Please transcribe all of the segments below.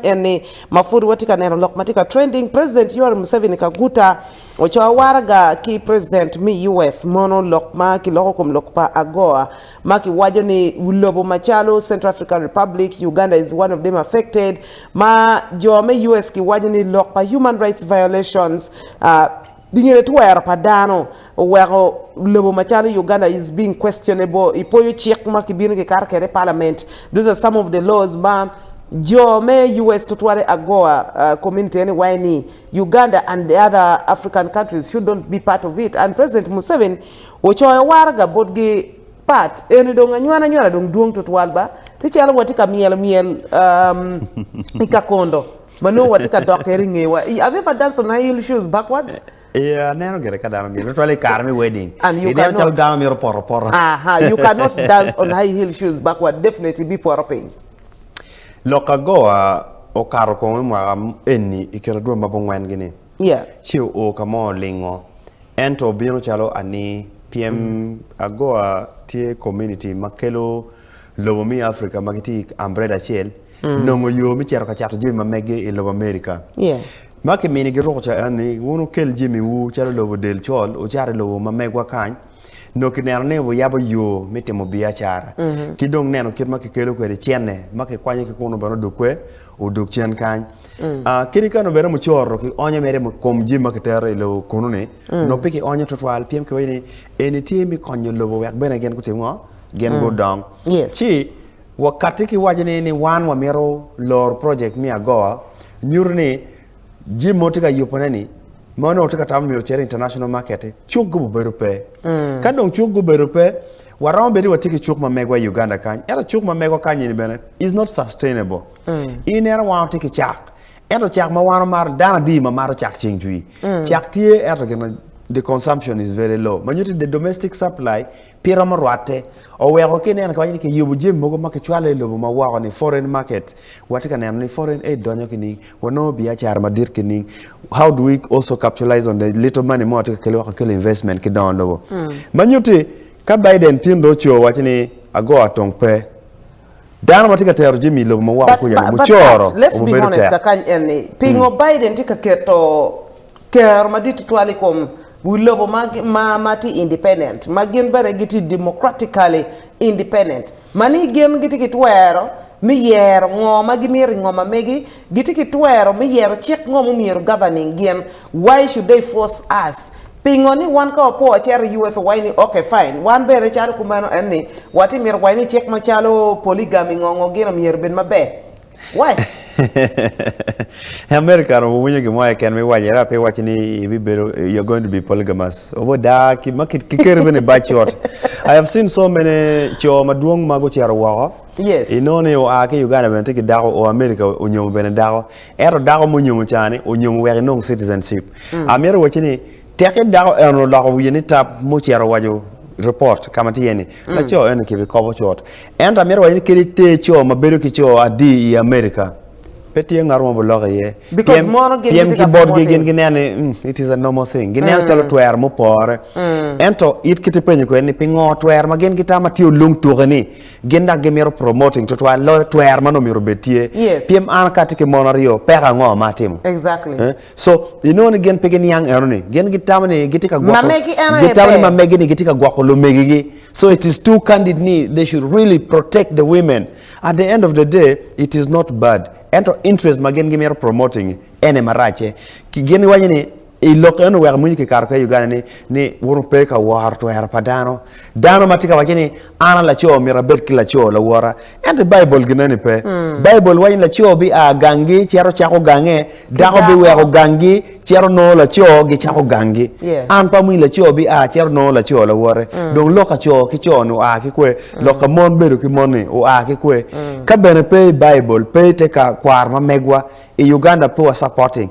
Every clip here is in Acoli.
en ni ma pud watye ka neno lok ma tye ka trending, President Yoweri Museveni Kaguta ocoyo waraga ki President me US mono lok ma kiloko kom lok pa AGOA ma kiwaco ni lobo macalo Central African Republic, Uganda is one of them affected ma jo me US giwaco ni lok pa human rights violations. Dingene twero pa dano oweko lobo macalo Uganda is being questionable i poyo cik ma kibino kikato kwede i parliament. These are some of the laws ma jo me US tutwal i AGOA community ene waye ni Uganda and the other African countries should not be part of it and President Museveni ocoyo waraga botgi but eni dong anywana anywana dong dwong tutwal ba pi calo watye ka myelo myel i kakondo. Ma nongo watye ka dok kede i ngewa i Have you ever danced on high heel shoes backwards? Ee, aneno gire ka dano myero, tutwale i kare me wedding. And you Ineno calo cannot. dano myero opoto apota. Aha, you cannot dance on high heel shoes backward, definitely ibipoto piny. Lok agoa okato kong i mwaka enni i kine dwe ma bungwen gi ni, Yeah. ci oo ka mo olingo ento obino calo ani pyem agoa tye community ma kelo Lobo me Africa ma gitye i ambrela acel nongo yo me cito ka cato jami ma meggi i lobo America. Ma kimini giruko caen ni wun wukel jamiwu calo lobo del col wucato i lobo ma megwa kany. Nongo kineno ni wuyabo yo me timo biacara ki dong neno kit ma kikelo kwede cene ma kikwanyo ki kunu bene odok kwer odok cen kany. Kadi ka nongo bene mucoro kionyo mere i kom jami ma kitero i lobo kunu-ni nongo pe kionyo twatwal pien kiwaco ni eni tye me konyo lobo wek bene gin gutim ngo? gin gudong. Ci wakatti ki waco ni ni wan wamito loro project me agoa nyuto ni jami ma watye ka yubone ni ma onongo tye ka tamo myero ocer i international market cuk gubo bedo pe. Ka dong cuk gubedo pe waromo bedo ni watye ki cuk ma megwa i Uganda kany ento cuk ma megwa kany ni bene is not sustainable. Ineno wan watye ki cak ento cak ma wan wamaro dano adi ma mato cak ceng cwii? Cak tye ento gin ma the consumption is very low ma nyuto ni the domestic supply Pi romo rwatte, oweko ki ineno kiwaco ni kiyubo jami mogo ma kicwalo i lobo ma woko ni foreign market, watye ka neno ni foreign aid donyo kining, wanongo biacara madit kining, how do we also capitalize on the little money ma watye ka kelo wek wakel investment ki dongo lobo. Ma nyutti, ka Biden tin dong oco waco ni ago atong pe. Dano ma tye ka tero jami i lobo ma woko kuca-ni mucoro obibedo tek. Kakany en ni, pingo Biden tye ka keto kero madit tutwal i kom wi lobo ma tye independent, ma gin bene gitye democratically independent, ma ni gin gitye ki twero me yero ngo ma gimito i ngo ma megi, gitye ki twero me yero cik ngo ma myero governing gin. Why should they force us? Pingo ni wan ka wapo wacito i US owaci ni ok fine. Wan bene calo kumeno en ni wati mito waci ni cik macalo polygamy ngo ngo gino myero bed maber. Why? America romo winyo gin mo keken me waco era pe iwaci ni ibibedo you're going to be polygamous. Obo da ki ma ki keri bene i bac ot. I have seen so many co madwong ma gucito woko. Yes. Inongo ni oa ki Uganda bene tye ki dako, o America onyomo bene dako. Ento dako ma onyomo ca ni onyomo wek enong citizenship. Amito wacci ni teki dako eno oloko wiye ni tap ma ocito owaco report ka ma tye ni laco eno ki bi kobo cut. Ento amito wacci ni kadi te co ma bedo ki co adi i America pe tye ngat mo ma biloko iye Because mono gin pien gitye ki ka botgi promote-i. gin gineno ni "Mm, it is a normal thing gineno calo twero mupore. Ento it kit ipenyo kwede ni pingo twero ma gin gitamo ma tye olung tuki ni Gin dok gimito promoting tutwal loyo twer ma nongo myero obed tye. Yes. Pien an ka atye ki mon aryo, peko ango ma atimo? Exactly. Eh? So, inongo ni gin pe giniang eno ni. Gin gitamo ni gitye ka gwoko. Mamegi eno aye Gitamo ni ber. mamegi ni gitye ka gwoko lumegigi. So it is too candid ni they should really protect the women. At the end of the day, it is not bad. Ento interest ma gin gimito promoting-ngi, ene maracce. Ki gin giwaco ni I lok eno wek amwonyo kikato kwede i Uganda ni, ni wun wupe ka woro twero pa dano. Dano ma tye ka waco ni an a laco myero abed ki laco lawota. Ento i Baibul gineni pe. Baibul waco ni laco bia ganggi cito cako gange, dako biweko ganggi cito nongo laco gicako ganggi. An pe amwonyo laco bia cito nongo laco lawote. Dong lok ka co ki co-ni oa ki kwe? Lok ka mon bedo ki mon-ni oa ki kwe? Ka bene pe i Baibul, pe i te kwaro ma megwa, i Uganda pe wa supporting.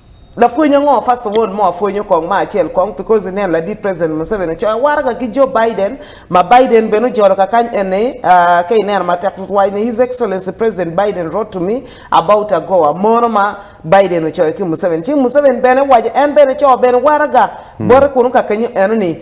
Lapwony ango first of all mo apwonyo kong ma acel kong because inen ladit president Museveni ocoyo awaraga ki Joe Biden ma Biden bene ojolo kakany eni aah ka ineno matek tutwal ni his excellency president Biden wrote to me about ago amono ma Biden ocoyo ki Museveni ci Museveni bene waco en bene coo bene waraga bote kunu kakenyo enoni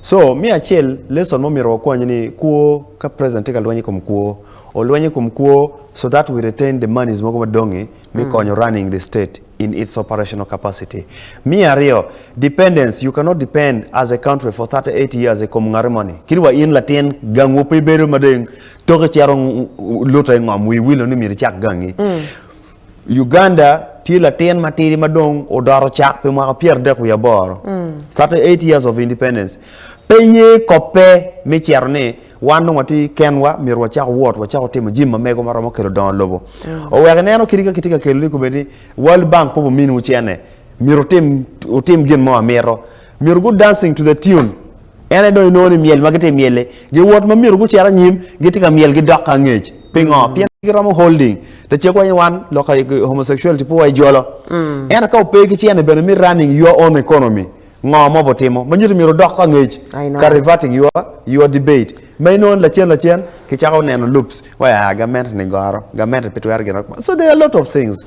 So me acel lesson ma omyero wakwany ni kwo ka president tye ka lweny ikom kwo olweny ikom kwo so that we retain the monies mogo madongi me mm. konyo running the state in its operational capacity. Me aryo, dependence you cannot depend as a country for 38 years ikom ngati moni. Kit wa in latin gangwu pe ibedo madeng toki cero luta ingom wi wilo ni myero icak gangi. Mm. Uganda tye latin matidi ma dong odoro cak pi mwaka pyeradek wiye aboro, 38 years of independence. Pe ye kobbe me cito ni wan dong watye kenwa myero wacak wot wacako timo jim ma mego ma romo kelo dongo lobo. Oweko ineno kit ka kitye ka kelo ni kobedi World Bank pe obiminiwu cene, myero wutim gin mo amito. Myero gu dancing to the tune, en aye dong inongo ni myel ma gitye myel-li. Giwot ma myero gucit anyim, gitye ka myel gidok ki angec. Pingo? Pien giromo holding. Lacek wa ni wan lok aye homosexuality pe waye jolo. Ento ka ope ki ci ene bene me running your own economy, ngo ma obutimo ma nyuto myero odok ki angec I know. ka reverting your your debate ma inongo ni lacen lacen kicako neno loops wa ah gamente ni goro, gamente pe twero gin ma so there are a lot of things.